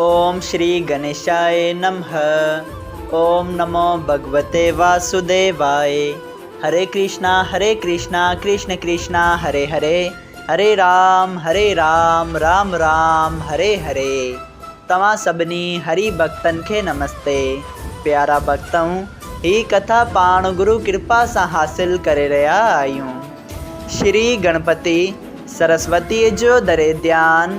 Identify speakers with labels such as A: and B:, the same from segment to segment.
A: اوم شري گنيشائي نمه اوم نمو ڀڳوتي واسوديوائي هري ڪرشنا هري ڪرشنا ڪرشن ڪرشنا هري هري هري رام هري رام رام رام هري هري توهان سڀني هري ڀڳتن کي نمستي پيارا ڀڳتؤ هي ڪٿا پاڻ گرو ڪرپا سان حاصل ڪري رهيا آهيون شري گڻپتي سرسوتي جو دري ڌيان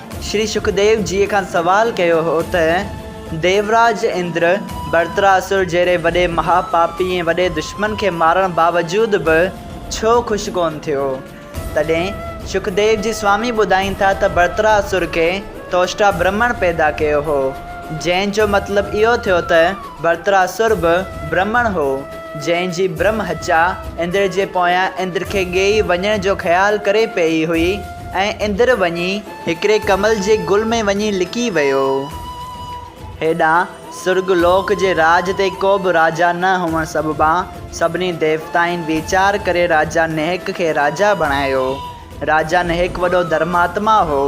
A: شري شڪديو جيء کان سوال ڪيو هو ته، ديوراج اندر، برتراسر جهڙي وڏي مها پاپي ۽ وڏي دشمن کي مارڻ باوجود به ڇو خوش ڪونه ٿيو؟ تڏهن شڪديو جي سوامي ٻڌائين ٿا ته برتراسر ڪنهن توشٽا برهمڻ پيدا ڪيو هو، جنهن جو مطلب اهو ٿيو ته برتراسر به برهمڻ هو، جنهن جي برهم هچا اندر جي پويان اندر کي ڳيئي وڃڻ جو خيال ڪري پيئي هئي. ۽ اندر وڃي هڪڙي ڪمل جي گل ۾ وڃي لڪي ويو. هيڏانهن سرڳ لوڪ جي راڄ تي ڪو به راجا نه هئڻ سببان سڀني ديوتائن ويچار ڪري راجا نهڪ کي راجا بڻايو. راجا نهڪ وڏو ڌرماتما هو،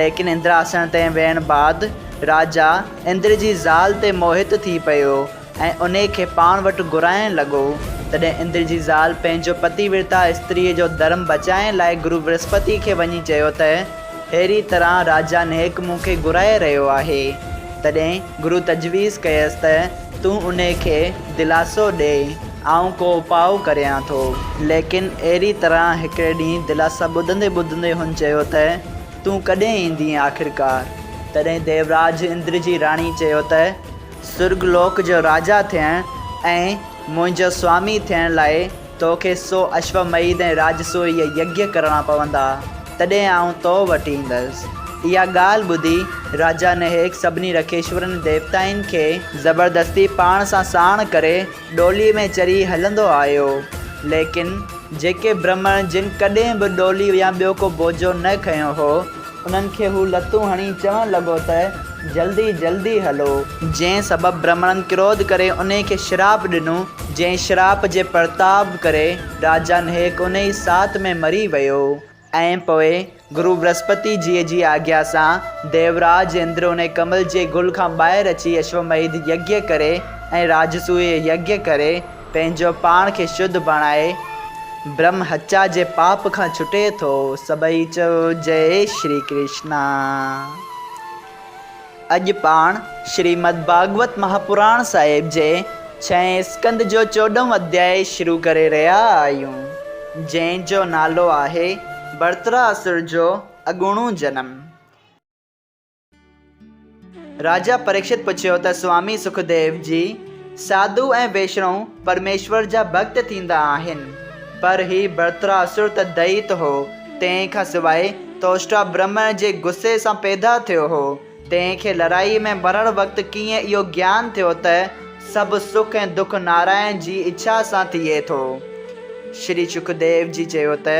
A: ليڪن اندراسڻ تي ويڻ بعد راجا اندر جي زال تي موهت ٿي پيو. ۽ انهيء کي پاڻ وٽ گهرائڻ لڳو، تڏهن اندر جي زال پنهنجو پتي ورتا استريء جو ڌرم بچائڻ لاء گرو ورهسپتيء کي وڃي چيو ته، ههڙيء طرح راجا نهڪ مون کي گهرائي رهيو آهي. تڏهن گرو تجويز ڪيس ته، تون انهيء کي دلاسو ڏي، آئون ڪو اپاء ڪريان ٿو. ليڪن اهڙيء طرح هڪڙي ڏينهن دلاسا ٻڌندي ٻڌندي هن چيو ته، تون ڪڏهن ايندينء آخرڪار؟ تڏهن ديوراج اندر جي راڻيء چيو ته، سرڳ لوڪ جو راجا ٿيڻ ۽ منهنجو سوامي ٿيڻ لاء تو کي سو اشوميڌ ۽ راجسويء يگيا ڪرڻا پوندا، تڏهن آئون تو وٽ ايندس. اها ڳالهه ٻڌي راجا نهيڪ سڀني رڪيشورن ديوتائن کي. زبردستي پاڻ سان ساڻ ڪري ڏوليء ۾ چري هلندو آيو. ليڪن جيڪي برهمڻ جن ڪڏهن به ڏولي يا ٻيو ڪو بوجهو نه کنيو هو، انهن کي هو لتون هڻي چوڻ لڳو ته، جلدي جلدي هلو! جنهن سبب برهمڻن ڪروڌ ڪري انهي کي شراپ ڏنو، جنهن شراپ جي پرتاب ڪري راجا نهيڪ انهي ئي ساعت ۾ مري ويو ۽ پوء گرو برهسپتي جيء جي آگيا سان ديوراج اندر انهي ڪمل جي گل کان ٻاهر اچي اشوميڌ يگيه ڪري ۽ راجسويه يگيه ڪري پنهنجو پاڻ کي شڌ بڻائي برهم هتيا جي پاپ کان ڇٽي ٿو. سڀئي چئو جئي شري ڪرشنا. اڄ پاڻ شريمد ڀاڳوت مهاپراڻ صاحب جي ڇهين اسڪند جو چوڏهون اڌياء شروع ڪري رهيا آهيون، جنهن جو نالو آهي ڀرترا اسور جو اڳوڻو جنم. راجا پريڪشت پڇيو ته سوامي سکديو جي، ساڌو ۽ ويشنو پرميشور جا ڀڳت ٿيندا آهن، پر هي برتراسر ته دئيت هو، تنهن کان سواء توشٽا برهمڻ جي غصي سان پيدا ٿيو هو، تنهن کي لڙائي ۾ مرڻ وقت ڪيئن اهو گيان ٿيو ته سڀ سک ۽ دک نارائڻ جي اڇا سان ٿئي ٿو؟ شري سکديو جي چيو ته.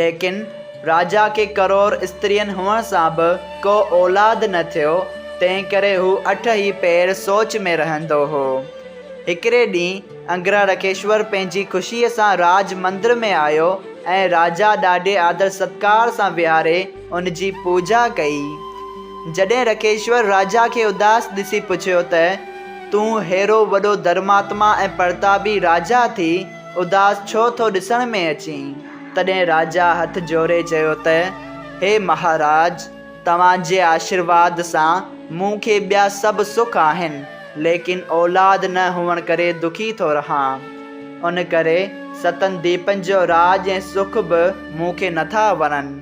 A: ليڪن راجا کي ڪرور استرين هئڻ سان به ڪو اولاد نه ٿيو، تنهنڪري هو اٺ ئي پهر سوچ ۾ رهندو هو. هڪڙي ڏينهن انگرارکيشور پنهنجي خوشيء سان راج مندر ۾ آيو ۽ راجا ڏاڍي آدر ستڪار سان ويهاري ان جي پوڄا ڪئي. جڏهن رکيشور راجا کي اداس ڏسي پڇيو ته، تون ههڙو وڏو ڌرماتما ۽ پرتابي راجا ٿي، اداس ڇو ٿو ڏسڻ ۾ اچين؟ تڏهن راجا هٿ جوڙي چيو ته، هي مهاراج! توهان جي آشيرواد سان مون کي ٻيا سڀ سک آهن، ليڪن اولاد نه هئڻ ڪري دکي ٿو رهان. ان ڪري ستن ديپن جو راڄ ۽ سک به مون کي نٿا وڻن.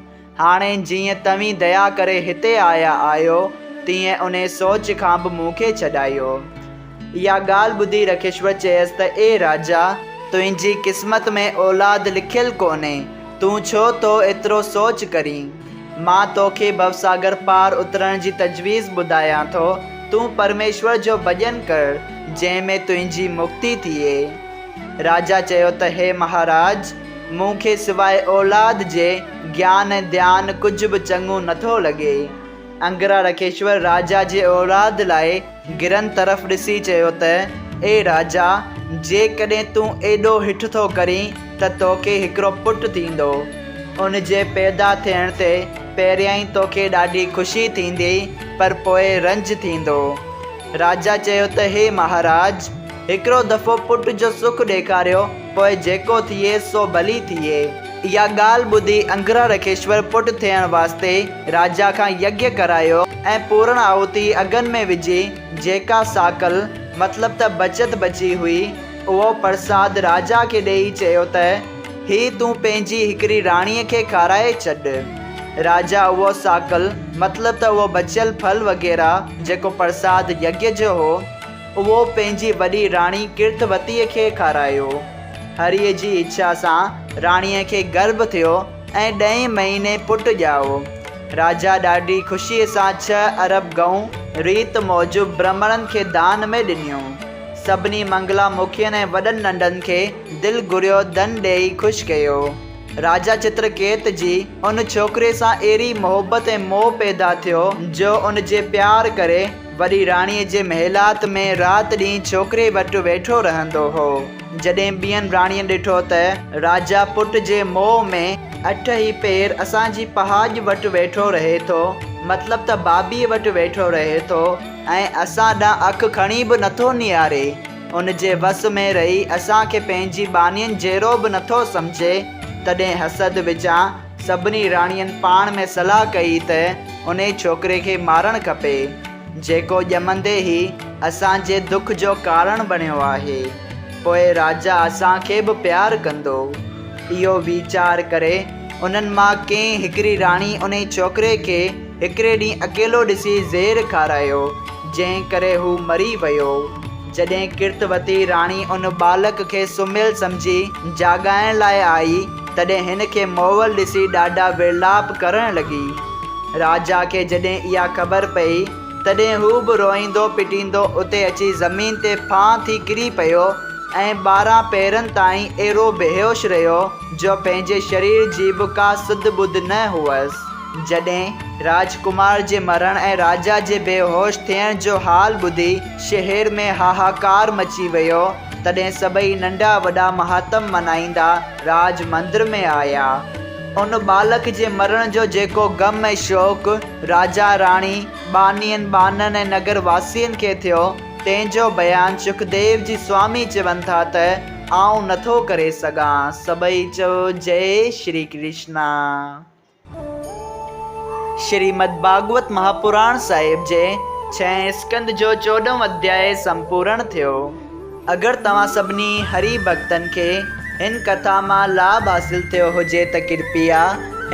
A: هاڻي جيئن توهين ديا ڪري هتي آيا آهيو، تيئن انهي سوچ کان به مون کي ڇڏايو. اها ڳالهه ٻڌي رکشور چيس ته اي راجا، تنهنجي قسمت ۾ اولاد لکيل ڪونهي، تون ڇو ٿو ايترو سوچ ڪرين؟ مان توکي ڀوساگر پار اترڻ جي تجويز ٻڌايان ٿو، تون پرميشور جو ڀڄن ڪر، جنهن ۾ تنهنجي مڪتي ٿئي. راجا چيو ته هي مهاراج! مون کي سواء اولاد جي گيان ۽ ڌيان ڪجهه به چڱو نه ٿو لڳي. انگرا رکيشور راجا جي اولاد لاء گرن طرف ڏسي چيو ته، اي راجا! جيڪڏهن تون ايڏو هٺ ٿو ڪرين ته توکي هڪڙو پٽ ٿيندو. ان جي پيدا ٿيڻ تي پهريائين توکي ڏاڍي خوشي ٿيندي پر پوء رنج ٿيندو. راجا چيو ته، هي مهاراج! هڪڙو دفعو پٽ جو سک ڏيکاريو. پوء جيڪو ٿئي سو ڀلي ٿئي. اها ڳالهه ٻڌي انگرهارکيشور پٽ ٿيڻ واسطي راجا کان يگيا ڪرايو ۽ پورڻ آهوتي اگهن ۾ وجهي جيڪا ساڪل مطلب ته بچت بچي هئي اهو پرساد راجا کي ڏيئي چيو ته هي تون پنهنجي هڪڙي راڻيء کي کارائي ڇڏ. راجا اهو ساڪل مطلب ته اهو بچيل ڦل وغيره جيڪو پرساد يگيا جو هو اهو پنهنجي وڏي راڻي ڪرتوتيء کي کارايو. هريء جي اڇا سان راڻيء کي گرڀ ٿيو ۽ ڏهين مهيني پٽ ڄائو. راجا ڏاڍي خوشيء سان ڇهه ارب ڳئون ريت موجب برهمڻن کي دان ۾ ڏنيون. سڀني منگلا مکين ۽ وڏن ننڍن کي دل گهريو ڌن ڏيئي خوش ڪيو. راجا چترڪيت جي ان ڇوڪريء سان اهڙي محبت ۽ موهه پيدا ٿيو جو ان جي پيار ڪري، وڏي راڻيء جي محلات ۾ رات ڏينهن ڇوڪري وٽ ويٺو رهندو هو. جڏهن ٻين راڻين ڏٺو ته راجا پٽ جي موهه ۾ اٺ هي پير اسان جي پهاڄ وٽ ويٺو رهي ٿو، مطلب ته بابيء وٽ ويٺو رهي ٿو ۽ اسان ڏانهن اک کڻي به نٿو نهاري، ان جي وس ۾ رهي اسان کي پنهنجي ٻانهين جهڙو به نٿو سمجهي، تڏهن حسد وچان سڀني راڻين پاڻ ۾ صلاح ڪئي ته انهي ڇوڪري کي مارڻ کپي، جيڪو ڄمندي ئي اسان جي دک جو ڪارڻ بڻيو آهي. پوء راجا اسان کي به پيار ڪندو. اهو ويچار ڪري انهن مان ڪنهن هڪڙي راڻي انهي ڇوڪري کي هڪڙي ڏينهن اڪيلو ڏسي زهر کارايو، جنهن ڪري هو مري ويو. جڏهن ڪرتوتي راڻي ان ٻالڪ کي سمهيل سمجهي جاڳائڻ لاء آئي، تڏهن هن کي مئل ڏسي ڏاڍا ورلاپ ڪرڻ لڳي. راجا کي جڏهن اها خبر پئي، تڏهن هو به روئيندو پٽيندو اتي اچي زمين تي ڦانء ٿي ڪري پيو ۽ ٻارهن پهرن تائين اهڙو بيهوش رهيو، جو پنهنجي شرير جي به ڪا سڌ ٻڌ نه هئس. جڏهن راج ڪمار جي مرڻ ۽ راجا جي بيهوش ٿيڻ جو حال ٻڌي شهر ۾ هاهاڪار مچي ويو، تڏهن سڀئي ننڍا وڏا مهاتم منائيندا راج مندر ۾ آيا. ان ٻالڪ جي مرڻ جو جيڪو غم ۽ شوق راجا راڻي، ٻانهين ٻانهن ۽ نگر واسين کي ٿيو، تنهن جو بيان شڪديو جي سوامي چون ٿا ته، آئون نٿو ڪري سگهان. سڀئي چئو جئي شري ڪرشنا. شريمد ڀاڳوت مهاپراڻ صاحب جي ڇهين اسڪند جو چوڏهون اڌياء سمپورڻ ٿيو. اگر توهان سڀني هري ڀڳتن کي هن ڪٿا مان لاڀ حاصل ٿيو هجي ته ڪرپيا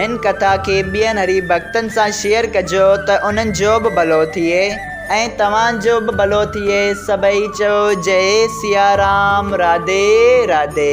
A: هن ڪٿا کي ٻين هري ڀڳتن سان شيئر ڪجو ته انهن جو به ڀلو ٿئي ۽ توهان جو به ڀلو ٿئي سڀئي چئو جئي سيارام راڌي راڌي.